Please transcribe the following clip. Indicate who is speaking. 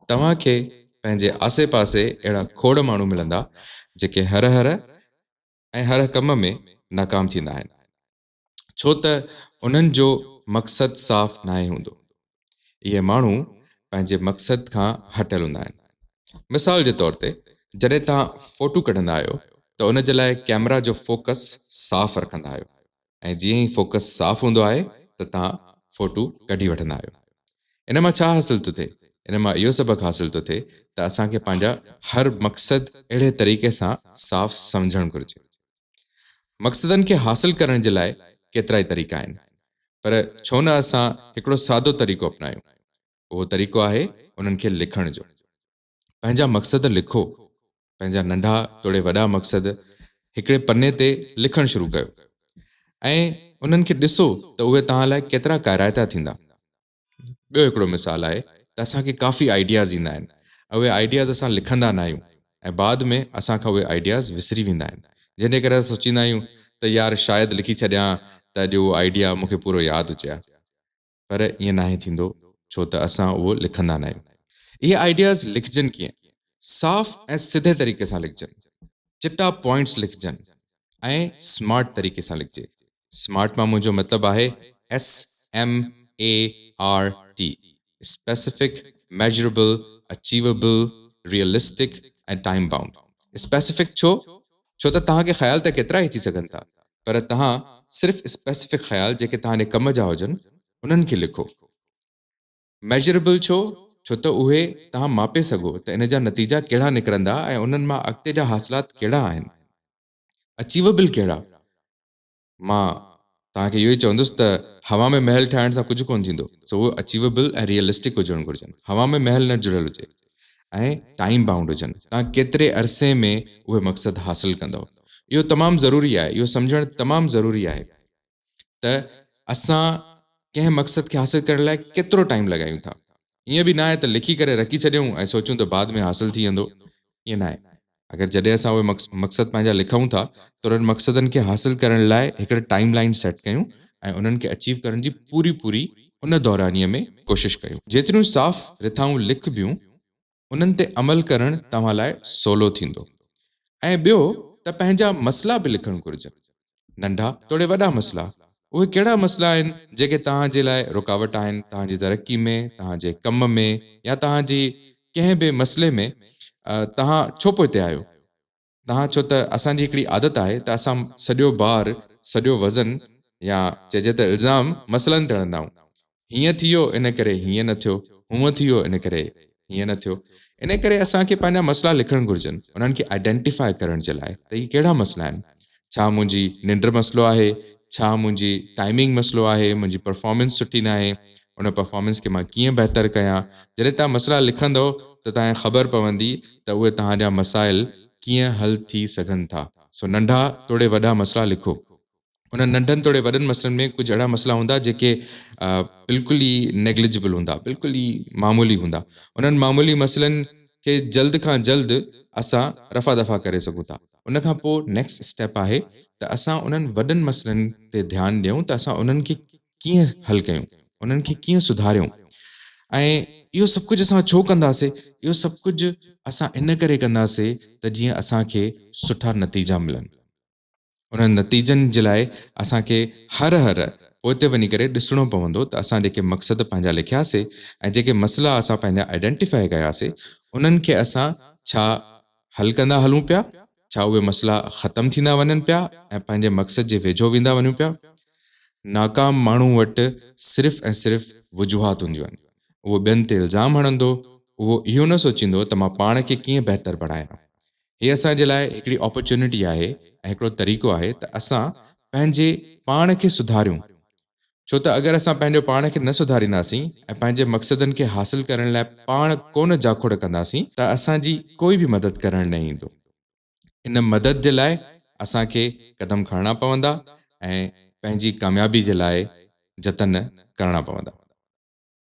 Speaker 1: توهان کي پنهنجي آسي پاسي اهڙا کوڙ ماڻهو ملندا جيڪي هر هر ۽ هر ڪم ۾ ناڪام ٿيندا آهن ڇو ته انهن جو مقصد صاف ناهي هوندو. اهي ماڻهو پنهنجي مقصد کان هٽيل هوندا آهن. مثال جي طور تي جڏهن توهان فوٽو ڪڍندا آهيو ته ان جي لاء ڪيمرا جو فوڪس صاف رکندا آهيو. ۽ جيئن ئي فوڪس صاف هوندو آهي ته توهان فوٽو ڪڍي وٺندا آهيو. ان مان ڇا حاصل ٿو ٿئي؟ ان مان اهو سبق حاصل ٿو ٿئي ته اسان کي پنهنجا هر مقصد اهڙي طريقي سان صاف سمجهڻ گهرجي. مقصدن کي حاصل ڪرڻ جي لاء ڪيترائي طريقا آهن پر ڇو نه اسان هڪڙو سادو طريقو اپنايون اهو طريقو آهي انهن کي لکڻ جو. پنهنجا مقصد لکو. پنهنجا ننڍا توڙي وڏا مقصد هڪڙي پني تي لکڻ شروع ڪيو ۽ انهن کي ڏسو ته اهي توهان لاء ڪيترا ڪارائتا ٿيندا. ٻيو هڪڙو مثال آهي ته اسان کي ڪافي آئيڊياز ايندا آهن ۽ اهي آئيڊياز اسان لکندا ناهيون ۽ بعد ۾ اسان کان اهي آئيڊياز وسري ويندا آهن جنهن جي ڪري اسان سوچيندا آهيون ته يار شايد لکي ڇڏيان ها ته اڄ اهو آئيڊيا مون کي پورو ياد هجي ها پر ائين ناهي ٿيندو ڇو ته اسان اهو لکندا ناهيون. اهي آئيڊياز لکجن ڪيئن؟ صاف ۽ سڌي طريقي سان لکجن، چٽا پوائنٽس لکجن ۽ سمارٽ طريقي سان لکجي. سمارٽ مان منهنجو مطلب آهي SMART، Specific Measurable Achievable Realistic ۽ Time Bound. Specific ڇو؟ ڇو ته توهان کي خيال ته ڪيترائي اچي سگهن ٿا پر توهان صرف اسپيسفڪ خيال جيڪي توهان جي ڪم جا هجن انهن کي لکو. ميجريبل ڇو؟ ڇو ته اهي توهان ماپي سگهو ته ان جا نتيجا ڪهڙا نڪرندا ۽ انهن مان اڳتي جا حاصلات ڪهڙا آهن. اچيويبل ڪهڙا؟ مان توهان کي اهو ئي چوندس ته هوا ۾ محل ٺاهڻ سان ڪجهه ڪونه ٿيندو سو اهي اچيويبل ۽ ريئلسٽڪ هجڻ گهرجن. هوا ۾ محل نه جڙيل هجي. ۽ ٽائيم بائونڊ هجن، توهان ڪيتري عرصي ۾ اهي مقصد حاصل ڪندؤ. اهو تمام ضروري آهي، اهو سمجهڻ تمام ضروري آهي ته اسان ڪنهن مقصد کي حاصل ڪرڻ لاء ڪيترو ٽائيم لڳايون ٿا. ائين به ناهي ته لکي ڪري رکي ڇڏيون ۽ سوچون ته بعد ۾ حاصل ٿي ويندو، ائين ناهي. اگر جڏهن اسان اهي مقصد پنهنجا لکون ٿا ته انهن مقصدن کي حاصل ڪرڻ لاء هڪڙي ٽائيم لائين سيٽ ڪيون ۽ انهن کي اچيو ڪرڻ جي پوري پوري ان دورانيه ۾ ڪوشش ڪيون. جيتريون صاف رٿائون لکبيون انهن تي عمل ڪرڻ توهان لاء سولو ٿيندو ۽ ٻيو ته پنهنجا مسئلا به لکڻ گهرجن ننڍا توڙي وڏا مسئلا، اهي ڪهڙا مسئلا آهن جيڪي توهان جي لاء رڪاوٽ آهن توهان جي ترقي ۾ توهان جي ڪم ۾ يا توهان جي ڪنهن به مسئلي ۾ توهان ڇو پوئتي آهيو توهان ڇو ته اسان جي هڪڙي عادت آهي ته اسان سڄو بار سڄو وزن يا چئجي ته الزام مسئلن تي هڻندائون هيئن ٿيو ان ڪري هيئن نه ٿيو، هونء ٿيو ان ڪري هيئن نه ٿيو. ان ڪري اسان کي پنهنجا مسئلا لکڻ گهرجن انهن کي آئيڊينٽيفائي ڪرڻ جي لاء ته هي ڪهڙا مسئلا آهن. ڇا منهنجي ننڊ مسئلو آهي، ڇا منهنجي ٽائمنگ مسئلو آهي، منهنجي پرفارمنس سٺي ناهي، ان پرفارمنس کي مان ڪيئن بهتر ڪيان. جڏهن توهان مسئلا لکندؤ ته توهان کي خبر پوندي ته اهي توهان جا مسائل ڪيئن حل ٿي سگهن ٿا. سو ننڍا توڙي وڏا مسئلا لکو. انهن ننڍن توڙي وڏن مسئلن ۾ ڪجهه اهڙا مسئلا هوندا جيڪي بلڪل ئي نيگلجبل هوندا بلڪل ئي معمولي هوندا انهن معمولي مسئلن کي جلد کان جلد اسان رفع دفع ڪري سگهون ٿا ان کان پوء نيڪسٽ اسٽيپ آهي ته اسان انهن وڏن مسئلن تي ڌيان ڏيون ته اسان انهن کي ڪيئن حل ڪيون انهن کي ڪيئن سڌاريون ۽ اهو سڀ ڪجهه اسان ڇو ڪنداسي اهو سڀ ڪجهه اسان ان ڪري ڪنداسي ته جيئن اسان کي سٺا نتيجا ملن انهن نتيجن جي لاء اسان کي هر هر پوئتي وڃي ڪري ڏسڻو پوندو ته اسان جيڪي مقصد پنهنجا لکيا سي ۽ جيڪي مسئلا اسان پنهنجا آئيڊينٽيفائي ڪيا سي انهن کي اسان ڇا حل ڪندا هلون پيا ڇا اهي مسئلا ختم ٿيندا وڃن پيا ۽ پنهنجي مقصد جي ويجهو ويندا وڃون پيا. ناڪام ماڻهو وٽ صرف ۽ صرف وجوهات هونديون آهن اهو ٻين تي الزام هڻندو اهو اهو نه سوچيندو ته مان پاڻ کي ڪيئن بهتر بڻايان هي اسان جي لاء هڪڙي اپارچونٽي آهي ۽ هڪڙو طريقو آهي ته اسان پنهنجي پاڻ کي سڌاريون ڇو ته اگر اسان پنهنجو پاڻ کي نه سڌارينداسين ۽ پنهنجي مقصدن کي حاصل ڪرڻ لاء پاڻ ڪونه جاکوڙ ڪنداسين ته اسان جي ڪوئي به مدد ڪرڻ نه ايندو ان مدد جي لاء اسان کي قدم کڻڻا پوندا ۽ پنهنجي ڪاميابي جي لاء جتن ڪرڻا پوندا.